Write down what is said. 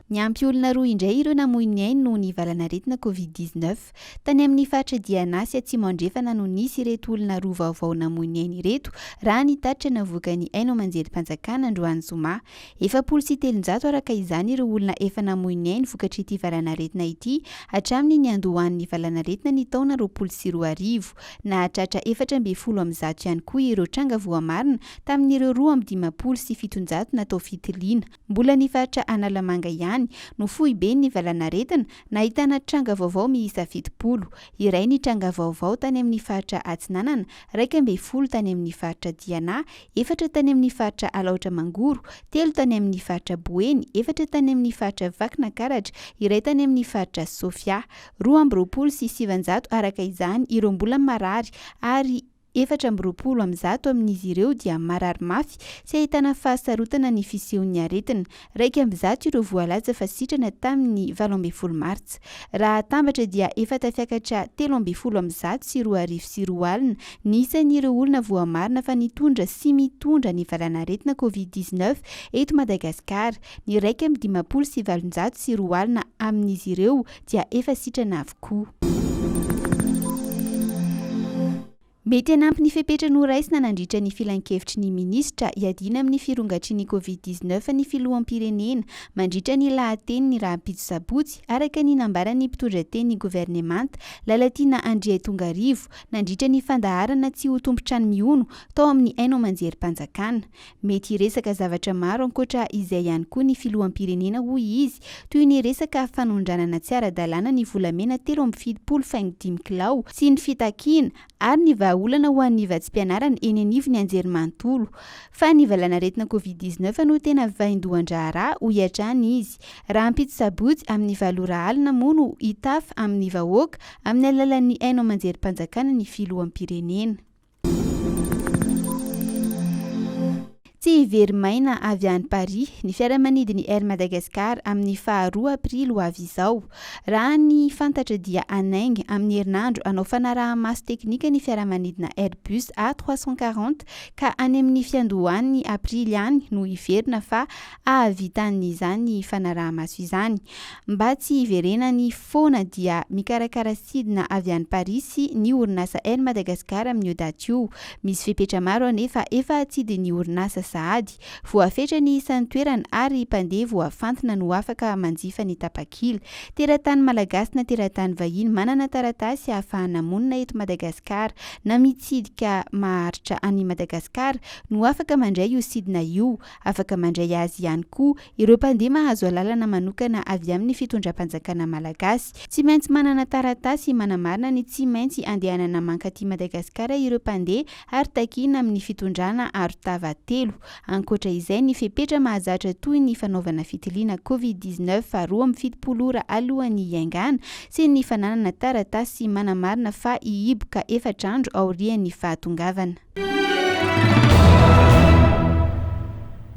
Niampy olona roa indray ireo namoy ny ainy noho ny valanaretina Covid dix neuf. Tany amin'ny faritra Diana sy Atsimo Andrefana no nisy ireto olona roa vaovao namoy ny ainy ireto, raha ny tatitra navoakan'ny haino aman-jerim-panjakana androany zoma. Efapolo sy telonjato araka izany ireo olona efa namoy ny ainy vokatr'ity valanaretina ity hatramin'ny niandohan'ny valanaretina ny taona roapolo sy roa arivo. Nahatratra efatra ambin'ny folo amby zato ihany koa ireo tranga voamarina tamin'ireo roa amby dimampolo sy fitonjato natao fitiliana. Mbola ny faritra Analamanga ihany no foiben'ny valanaretina nahitana tranga vaovao miisa fitopolo, iray ny tranga vaovao tany amin'ny faritra Atsinanana, raika ambin'ny folo tany amin'ny faritra Diana, efatra tany amin'ny faritra Alaotra Mangoro, telo tany amin'ny faritra Boeny, efatra tany amin'ny faritra Vakinankaratra, iray tany amin'ny faritra Sofia. Roa amby roapolo sy sivinjato araka izany ireo mbola marary ary efatra amby roapolo amin'ny zato amin'izy ireo dia marary mafy sy ahitana fahasarotana ny fisehon'ny aretina, Iraika amby zato ireo voalaza fa sitrana tamin'ny valo ambin'ny folo martsa. Raha atambatra dia efa tafiakatra telo ambin'ny folo amby zato sy roa arivo sy roa alina ny isan'ireo olona voamarina fa nitondra sy mitondra ny valanaretina covid dix-neuf eto Madagasikara. Ny iraika amby dimampolo sy valonjato sy roa alina amin'izy ireo dia efa sitrana avokoa. Mety hanampy ny fepetra noraisina nandritra ny filankevitry ny minisitra hiadiana amin'ny firongatry ny Covid dix neuf ny filoham-pirenena mandritra ny lahateniny rahampitso sabotsy, araka ny nambaran'ny mpitondra teny ny governemanta, Lalatiana Andriaitongarivo, nandritra ny fandaharana tsy ho tompon-trano mihono tao amin'ny haino aman-jerim-panjakana. Mety hiresaka zavatra maro ankoatra izay ihany koa ny filoham-pirenena hoy izy, toy ny resaka fanondranana tsy ara-dalàna ny volamena telo amby fitopolo faingo dimy kilao sy ny fitakiana ary ny vahaolana ho an'ny vatsim-pianarana eny anivon'ny anjerimanontolo. Fa ny valanaretina covid dix-neuf no tena vaindohan-draharaha, hoy hatrany izy. Rahampitso sabotsy amin'ny valo ora alina moa no hitafa amin'ny vahoaka amin'ny alalan'ny haino aman-jerim-panjakana ny filoham-pirenena. Tsy hivery maina avy any Paris ny fiaramanidin'ny Air Madagascar amin'ny faha roa aprily ho avy izao. Raha ny fantatra dia hanainga amin'ny herinandro hanao fanaraha-maso teknika ny fiaramanidina Airbus A trois cent quarante ka any amin'ny fiandohan'ny aprily any no hiverina fa hahavitan'izany fanaraha-maso izany. Mba tsy hiverenany foana dia mikarakara sidina avy any Parisy ny orinasa Air Madagascar amin'io daty io. Misy fepetra maro anefa efa atsidin'ny orinasa sahady. Voafetra ny isan'ny toerana ary mpandeha voafantina no afaka manjifa ny tapakila. Teratany malagasy na teratany vahiny manana taratasy ahafahana monina eto Madagasikara na mitsidika maharitra an'i Madagasikara no afaka mandray io sidina io Afaka mandray azy ihany koa ireo mpandeha mahazo alalana manokana avy amin'ny fitondram-panjakana malagasy. Tsy maintsy manana taratasy manamarina ny tsy maintsy andehanana mankaty Madagasikara ireo mpandeha ary takiana amin'ny fitondrana arotava telo. Ankoatra izay ny fepetra mahazatra toy ny fanaovana fitiliana covid dix-neuf roa amby fitopolo ora alohan'ny hiaingàna tsy ny fananana taratasy manamarina fa hihiboka efatra andro aorian'ny fahatongavana.